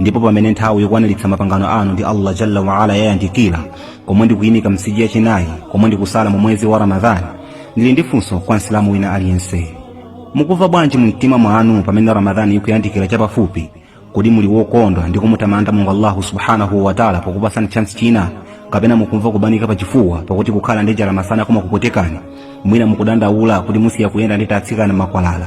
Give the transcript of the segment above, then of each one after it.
ndipo pamene nthawi yokwaniritsa mapangano anu ndi allah jalla waala yayandikira komwe ndikuyimika msiji yachinayi komwe ndikusala mu mwezi wa ramadhani ndili ndi funso kwa msilamu wina aliyense mukumva bwanji mu mtima mwanu pamene ramadhani ikuyandikira chapafupi kodi muli wokondwa ndi kumutamanda mulungu allahu subhanahu wataala pokupatsani chansi china kapena mukumva kubanika pa chifuwa pakuti kukhala ndi njala masana kumakupwetekani mwina mukudandaula kuti musiya kuyenda ndi atsikana makwalala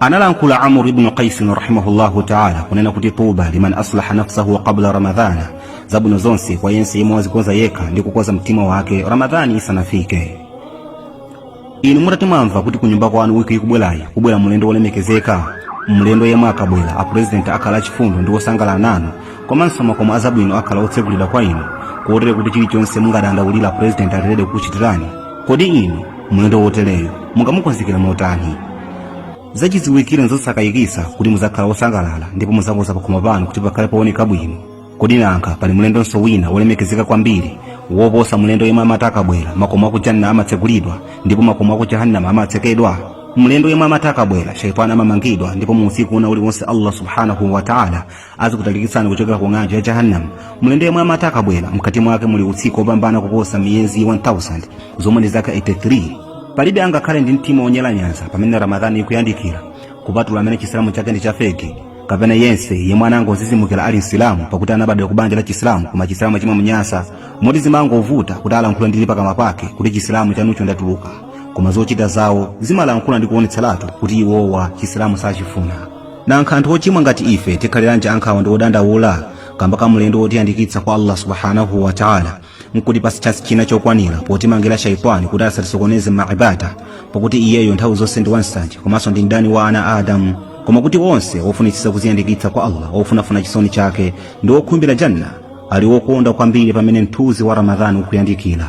analankhula amr ibnu qaisin rahimahullahu taala kunena kuti tuba liman aslaha nafsahu qabla ramadhana zabwino zonse kwa yense yemwe wazikonza yekha ndi kukonza mtima wake ramadhani isanafike inu mutati mwamva kuti kunyumba kwanu wiki ikubwerayi kubwera mlendo wolemekezeka mlendo yemwe akabwera apurezidenti akhale achifundo ndi wosangalala nanu komanso makomo azabwino akhala otsegulidwa kwa inu kotero kuti chilichonse mungadandaulire purezidenti ali ready kukuchitirani kodi inu mlendo wotereyo mungamukonzekere motani zachidziwikire nzosakayikitsa kuti muzakhala wosangalala ndipo muzakonza pakhomo panu kuti pakhale pooneka bwino kodi nankha pali mlendonso wina wolemekezeka kwambiri woposa mlendo yemwe amati akabwera makomo aku janna amatsegulidwa ndipo makomo aku jahannama amatsekedwa mlendo yemwe amati akabwera shaitani amamangidwa ndipo mu usiku wina uliwonse allah subhanahu wa taala azikutalikitsani kuchokera ku ng'anjo ya jahannam mlendo yemwe amati akabwera mkati mwake muli usiku wopambana kuposa miyezi 1000 zomwe ndi zaka 83 palibe angakhale ndi mtima wonyalanyaza pamene ramadhani ikuyandikira kupatula amene chisilamu chake ndi chafeki kapena yense yemwe anangodzidzimukira ali msilamu pakuti anabadwa ku banja la chisilamu koma chisilamu chimamunyasa moti zimangovuta kuti alankhule ndi pakamwa pake kuti chisilamu chanucho ndatuluka koma zochita zawo zimalankhula ndi kuonetseratu kuti iwowa chisilamu sachifuna nankha anthu ochimwa ngati ife tikhaliranji ankhawa ndi odandaula kamba ka mlendo wotiyandikitsa kwa allah subhanahu wa taala nkutipatsa chansi china chokwanira potimangira shaitani kuti asatisokoneze mmaibada pakuti iyeyo nthawi zonse ndi wansanje komanso ndi mdani wa ana a adamu koma kuti onse ofunitsitsa kuziyandikitsa kwa allah ofunafuna chisoni chake ndi okhumbira janna ali wokondwa kwambiri pamene mthunzi wa ramadhani ukuyandikira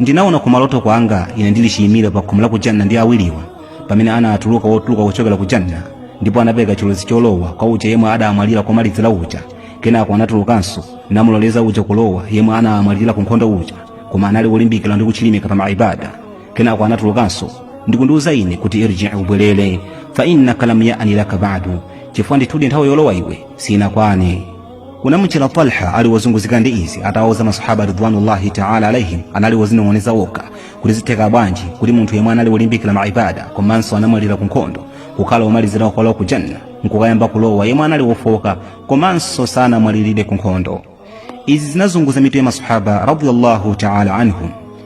ndinaona kumaloto kwanga ine ndili chiyimire pakhomo la ku janna ndi awiriwa pamene anatuluka wotuluka kuchokera ku janna ndipo anapereka chilolezo cholowa kwa uja yemwe adamwalira komalizira uja kenako anatulukanso namuloleza uja kulowa yemwe anamwalira ku nkhondo uja koma anali wolimbikira ndi kuchilimika pa maibada kenako anatulukanso ndikundiuza ine kuti irji ubwerere fa innaka lam yani laka badu chifukwa ndithudi nthawi yolowa iwe sinakwane kunamuchera talha ali wozunguzika ndi izi atawauza masahaba ridwanullahi taala alaihim anali wozinong'oneza wokha kuti zitheka bwanji kuti munthu yemwe anali wolimbikira maibada komanso anamwalirira ku nkhondo kukhala womalizira kulowa ku janna nkukayamba kulowa yemwe anali wofoka komanso sanamwalirire ku nkhondo izi zinazunguza mitu ya masahaba radiyallahu taala anhum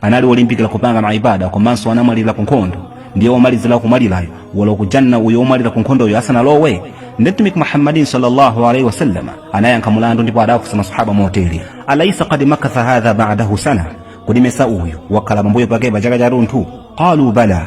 anali olimbikira kupanga maibada komanso anamwalira ku nkhondo ndiye womalizira kumwalirayo walowa ku janna uyo womwalira ku nkhondoyo asanalowe ndi mtumiki muhammadin sallallahu alaihi wasallam anayankha mulandu ndipo adaafunsa masahaba motere alaisa kad makatha hadha ba'dahu sana kodi mesa uyu wakhala pambuyo pake pa chaka chatunthu qalu bala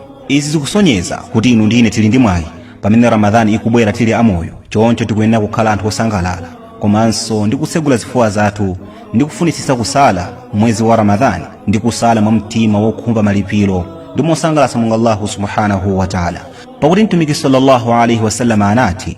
izi zikusonyeza kuti inu ndi ine tili ndi mwayi pamene ramadhani ikubwera tili amoyo choncho tikuyenera kukhala anthu osangalala komanso ndi kutsegula zifuwa zathu ndi kufunitsitsa kusala mwezi wa ramadhani ndi kusala mwa mtima wokhumba malipiro ndi mosangalatsa mulungu allahu subhanahu wa taala pakuti mtumiki sallallahu alaihi wasallam anati